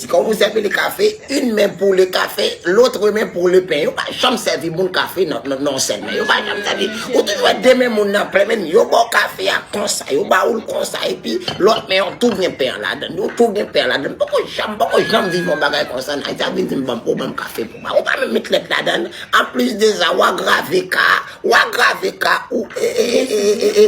Ti kòb ou sèvi li kafe, yn men pou le kafe, lotre men pou le pen. Yo pa janm sèvi moun kafe nan yon sèl men. Yo pa janm sèvi. Ou toujou wè de men moun nan plen men. Yo ba w kafe a konsa, yo ba ou l konsa epi lòt men an tou gen pen an ladan l. Yo tou gen pen an ladan l. M poko janm, m poko janm viv yon bagay konsa nan Ayiti. Ap vin di m ban m, ou ban m kafe pou mwen. Ou pa menm met lèt ladan l. Anplis de sa, w agrave ka a, w agrave ka a, ou e e e e e e.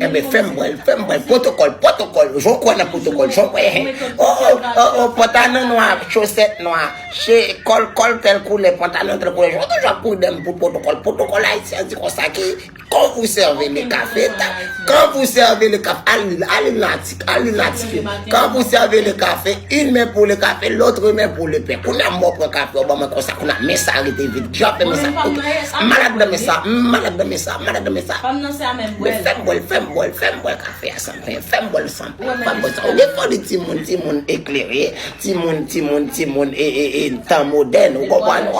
Enben fèm wèl, fèm wèl, pwotokòl, pwotokòl, jò kwè nan pwotokòl, jò kwè hen, o, o, o, o, pantalon nwa, chosèt nwa, che, kòl, kòl tèl koulè, pantalon tèl koulè, jò toujou ap kouri dèm pou pwotokòl, pwotokòl ayisyen an di konsa ki, kon vou sève le kafeta, kan vou sève le kaf, al li, al li nan. Ka li la tifi. Ka pou sève le kafe, yn men pou le kafe, lotre men pou le pen. Kounye a mò pran kafe ou ban mwen konsa kounye a men sa rete vid. Jan fè men sa. Ok. Malad nan men sa. M malad nan men sa. Malad nan men sa. Men fèm bwèl, fèm bwèl, fèm bwèl kafe a san pen. Fèm bwèl san pen. Fèm bwèl san pen. Ou gen foli ti moun, ti moun eklere, ti moun, ti moun, ti moun e e e tan modèn. Ou konprann?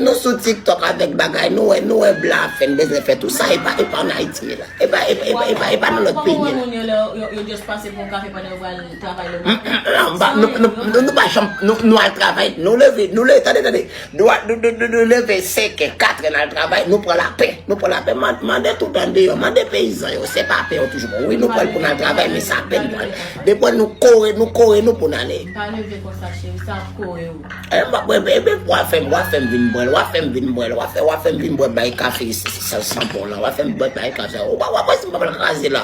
Nou sou tiktok avèk bagay nou wè, nou wè blan ap fè n bezwen fè tou sa. E pa, e pa an Ayiti ye la. Epa epa epa epa epa nan lòt peyi. Koman moun yo lè yo just pase pou yon kafe pandan yo pral travay le maten. Nou pa janm nou al travay nou leve nou leve tande tande nou leve 5 è 4 è nal travay nou pran lapè nou pran lapè mande tout andeyò mande peyizan yo se pa pè yo toujou pran wi nou pran pou nal travay men se apèn nou al depwa nou kore nou kore nou pou nale. Pa leve konsa cheri sa ap kore ou. Eeh m pa bwè bèy bèy pou wa fè m wa fè m vin bwè l wa fè m vin bwè l wa fè wa fè m vin bwè bèy kafe sanpon lan wa fè m bwè bèy kafe ou pa wè si m pa pral kraze la.